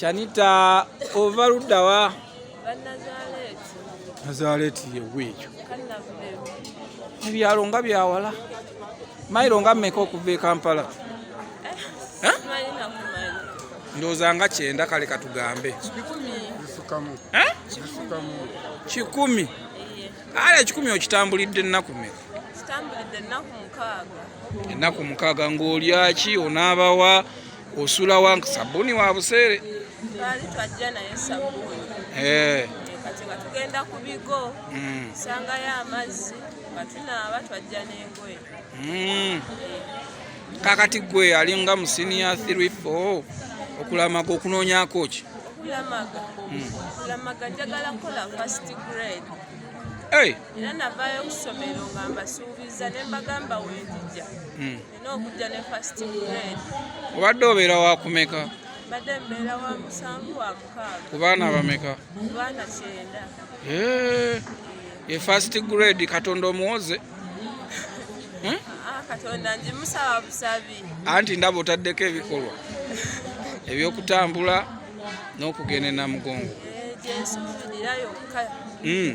Shanita ova luddawa? Nazareti yewe ekyo ebyalo nga byawala mayiro nga mmeka okuva e Kampala eh, ndowooza nga kyenda kale katugambe eh? kikumi ale ekikumi okitambulidde ennaku mmeka ennaku mukaaga ng'olyaki onaabawa osula wa sabuni wa buseere twali twajja naye sabuni eh. kati nga tugenda ku bigo hmm. sangayo amazzi nga tunaaba twajja n'engoye hmm. kakati gwe alinga mu siniya 3 4 okulamaga okunoonyako ki okulamaga hmm. okulamaga njagala kukola first grade era navaayo okusomero nga mbasuubiza ne mbagamba wendija n'okujja ne first grade obadde obeera wakumeka mbadde mbeera wa musanvu wa mukaaga ku baana abameka ku baana kyenda ye first grade katonda omuwoze hmm? ah, katonda njimusaba busabi anti ndaba otaddeko ebikolwa ebyokutambula n'okugenda enamugongo eh, gyensuubirira yokka hmm.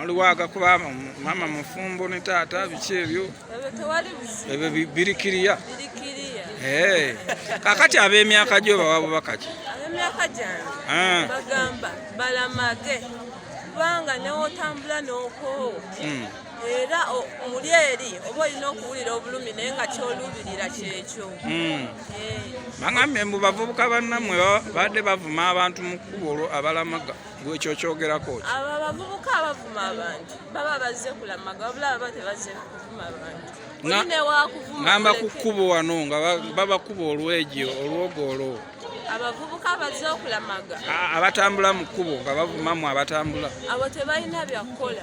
waliwo agakuba mama mufumbo ne taata biki ebyo ebyo birikiriya eh. kakati ab'emyaka gyo bawa bubaka ki ab'emyaka gyange ah. bagamba balamage kubanga newotambula n'okoowo hmm. era muli eri oba olina okuwulira obulumi naye nga kyoluubirira kyekyo hmm. eh. bagambye mbu bavubuka bannamwe babadde bavuma abantu mu kkubo olwo abalamaga gwe ekyo okyogerako ki abo abavubuka abavuma abantu baba bazze kulamaga wabula baba tebazze kuvuma abantu ngamba ku kkubo wano nga babakuba olwegyo olwogolo abavubuka abazze okulamaga abatambula mu kkubo nga bavumamu abatambula abo tebalina byakukola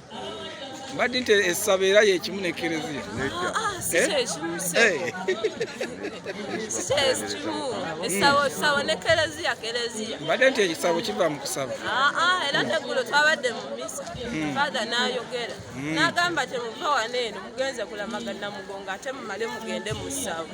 mbadde nti essabo era yekimu nekereziya mbadde nti ekisabo kiva mu kusaba ah, ah, era tegulo twabadde mu misa hmm. fathe nayogera hmm. nagamba temuva wano eno mugenze kulamagana mugongo ate mumale mugende mu ssabo